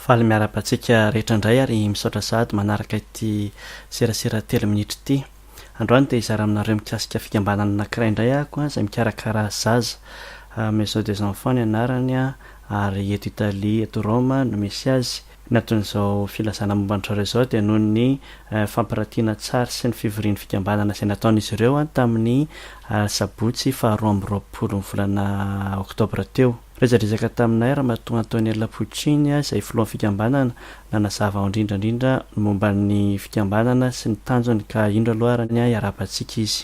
Faly miarahaba antsika rehetra indray ary misaotra sahady manaraka ity serasera telo minitra ity. Androany dia hizara aminareo mikasika fikambanana anankiray indray ahako izay mikarakara zaza. Maison des enfants ny anarany ary eto Italie, eto Roma no misy azy. Ny anton'izao filazana momba an-dry zareo izao dia noho ny fampirantiana tsary sy ny fivorian'ny fikambanana izay nataon'izy ireo tamin'ny sabotsy faharoa amby roapolon'ny volana oktobra teo. Resadresaka taminay Ramatoa Antonella Puccini izay filohan'ny fikambanana nanazava ho indrindra indrindra ny momba ny fikambanana sy ny tanjony ka indro aloha ary ny iarahabantsika izy.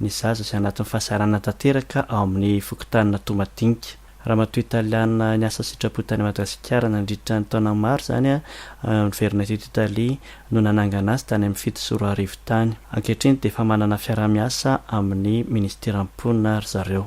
Ny zaza izay anatin'ny fahasahiranana tanteraka ao amin'ny fokontanina Toamadinika. Ramatoa Italiana niasa sitrapo tany Madagasikara nandritra ny taona maro izany niverina teto Italia no nanangana azy tany amin'ny fito sy roa arivo tany. Ankehitriny dia efa manana fiaraha-miasa amin'ny Minisiteran'ny Mponina ry zareo.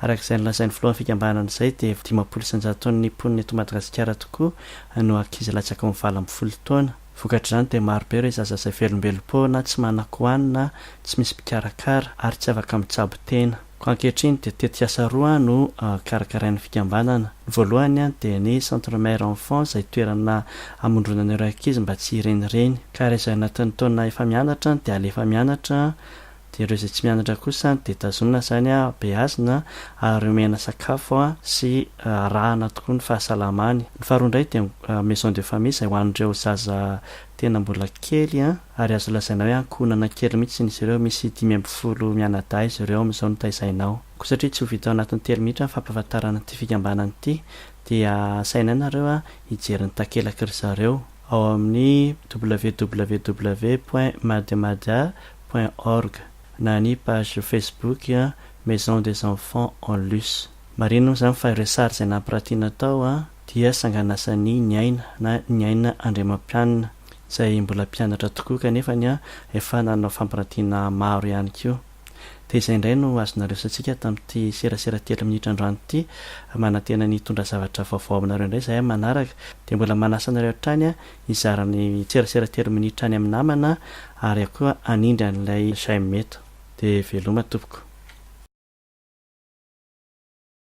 Araka izay nolazain'ny filohan'ny fikambanana izay dia dimampolo isan-jaton'ny mponina eto Madagasikara tokoa no ankizy latsaky ny valo ambin'ny folo taona. Vokatr'izany dia marobe ireo zaza izay velombelom-po na tsy manan-kohanina, tsy misy mpikarakara ary tsy afaka mitsabo tena. Koa ankehitriny dia tetikasa roa no karakarain'ny fikambanana. Ny voalohany dia ny Centre Mère Enfant izay toerana hamondronana ireo ankizy mba tsy hirenireny ka rehefa ao anatin'ny taona efa mianatra dia alefa mianatra, Dia ireo izay tsy mianatra kosa dia tazonina izany habeazina ary omena sakafo sy arahana tokoa ny fahasalamany. Ny faharoa indray dia maison de famille izay ho an'ireo zaza tena mbola kely ary azo lazaina hoe ankohonana kely mihitsy izy ireo, misy dimy ambin'ny folo mianadahy izy ireo amin'izao no taizaina ao. Koa satria tsy ho vita ao anatin'ny telo minitra ny fampahafantarana ity fikambanana ity dia asainay nareo hijery ny takelak'ry zareo ao amin'ny www point mademada. point org na ny page facebook Maison des enfants en luce. Marihina moa izany fa ireo sary izay nampirantiana tao dia sanganasan'i Niaina na Niaina Andriamampianina izay mbola mpianatra tokoa kanefa efa nanao fampirantiana maro ihany koa. Dia izay indray no azonareo resatsika tamin'ity serasera telo minitra androany ity. Manantena ny hitondra zavatra vaovao aminareo indray izahay manaraka dia mbola manasa anareo hatrany Hizara amin'ny tserasera telo minitra any amin'ny namana ary aho koa hanindry an'ilay Jaime eto. Dia veloma tompoko.